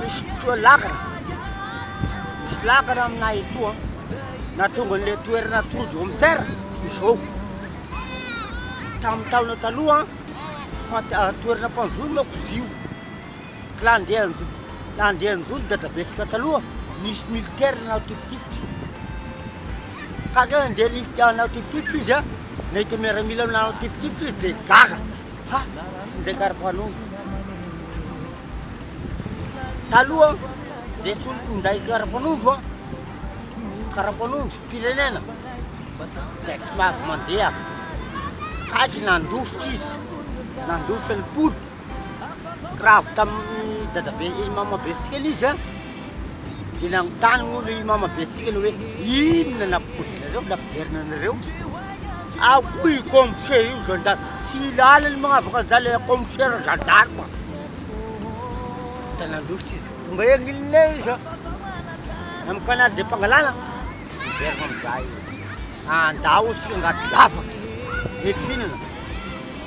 misy koa lakra, misy lakra aminay etoa, na tonga an'ilay toerana atody home serre izao, tamin'ny taona taloha fa toerana mpanjono manko izy io, ka raha andeha hanjo- raha andeha hanjono dadabentsika taloha nisy militaire nanao tifitifitra, ka andeha hanao tifitifitra izy an, nahita miaramila nanao tifitifitra izy dia gaga. Ha! Tsy nizakary mpanondro. Taloha, izay soloko minday karapanondro a, karapanondro mpirenena, dia tsy mahazo mandeha. Kajy nandositra izy, nandositra ny pody, kiravo tamin'ny dadabe, mamabe sy kely izy a. Dia nanontany moa ilay mama be antsika ilay hoe inona nampody anareo, nampiverina anareo? Ao koa io kaomisera io, zandary, tsy lalany magnavaka an'izany ilay kaomisera zandary fa dia nandositra izy dia tonga ery Linné izy an, amin'ny canal de Pangalana, niverina amin'izay izy, andao isika angady lavaka, hifinana,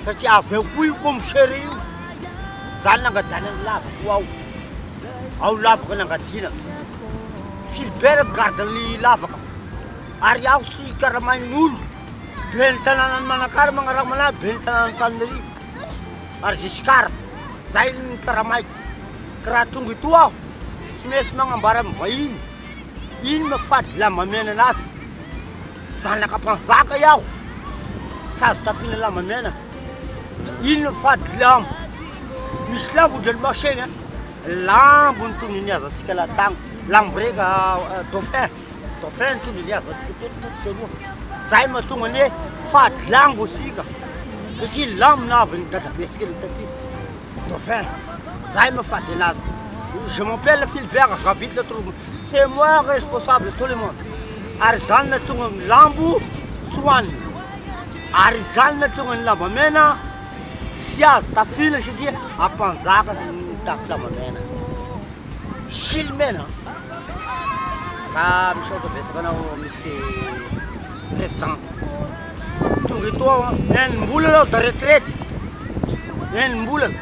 satria avy ao koa io kaomisera io, izany nangadanany lavaka ho ao. ao lavaka nangadiana. Philbert garde ny lavaka ary aho sy Karamainolo ben'ny tanànan'i Manakara magnaraka manahy ben'ny tanàn'Antananarivo ary Giscard zay ny karamaiko ka raha tonga eto aho tsy maintsy magnambara amin'ny vahiny ino maha fady lamba miainana azy. Zanaka mpanjaka iaho, sazy tafina lamba mena, inona fady lamba, misy lambo ndry ry Marseille an, lambo ny tondro niazantsika latagny, lambo reka dauphin, dauphin ny tondro niazantsika teto tondro teroa, zay mahatonga anie fady lambo isika, satria lambo nahavy ny dadabentsika taty. Dauphin, zahay mifady anazy, je m'appelle Philbert j'habite le trou, c'est moi responsable tout le monde, ary izany nahatonga ny lambo tsy hohanina, ary izany nahatonga ny lambamena tsy azo tafila satria ampanjaka mitafy lambamena, silimena, ka misaotra betsaka anao monsieur président. tonga eto aho an, enim-bolana aho de retraite, enim-bolana,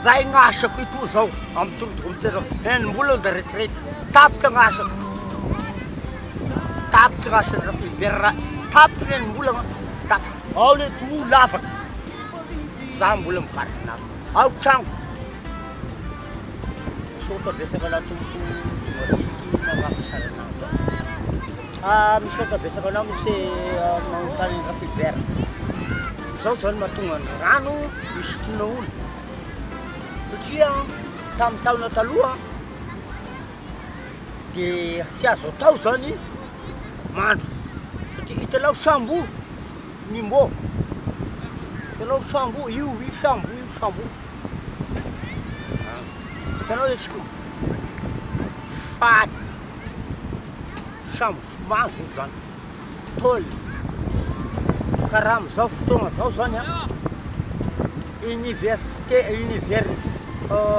za igny asako etoa zao amin'ny tolotoko amin'ny tsena, enim-bolana de retraite, tapitra ny asako, tapitra ny asan'i Raphilibert, tapitra ny enim-bolana, tapitra, ao le toa lavaka, za mbola mivarotry lavaky, ao trano, misaotra betsaka anao tompoko tonga aty ty nagnampiasana anah. Ah misaotra betsaka anao mihitsy manontany an'i Rafilibera. Izao zao no mahatonga ny rano hisotroina olona. Satria tamin'ny taona taloha dia tsy azo atao zany mandro. Satria hitanao sambo Nimbo, hitanao sambo io io sambo io sambo. Hitanao izy io fady. Samy vomazy eto zany. Paul, ka raha amin'izao fotoagna zao zany an, université, univers,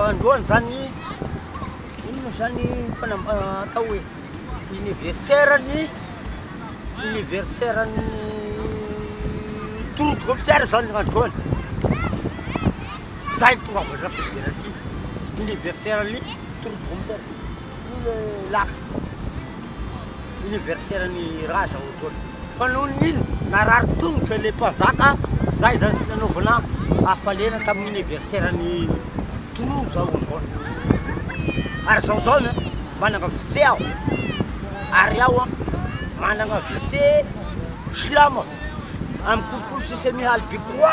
androany zany, ino moa zany fanam- atao hoe anniversaire ny, anniversaire ny tour de comisaire zany androany, zay no tonga avy hatrafy fidirana aty, anniversaire ny tour de comisaire. Io le laka anniversaire ny ra zao etoana fa noho ny ino narary tongotra le mpanjaka zay zany tsy nanaovana hafaliana tamin'ny anniversaire ny toloha zao androany ary zao zao ny manana vise aho ary aho an manana vise silamo amin'ny kolikoly sesemihaly bikroa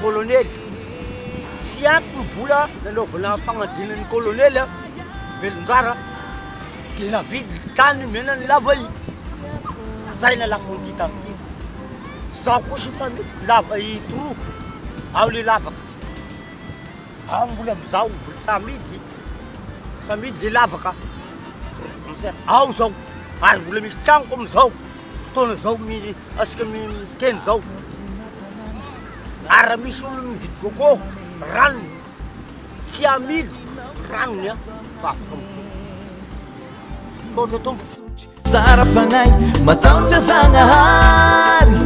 Kolonely, tsy ampy ny vola nanaovana famadihana ny kolonely a! Velonjara dia navidy ny tany nomena an'i Lava I, zay nalafo an'ity tany ity. Zaho kosa efa mety Lava I trop ao le lavaka, ao mbola amizao mbola samidy, samidy le lavaka, ao zao ary mbola misy tragnoko amizao. fotoana zao asika miteny zao ary raha misy olo mividy coco ranony tsy amily ranony an fa afaka mividy misaotra tompo tsara fanahy mataotra zagnahary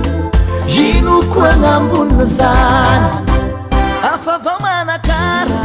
ino ko agnambonina zany afavao manakara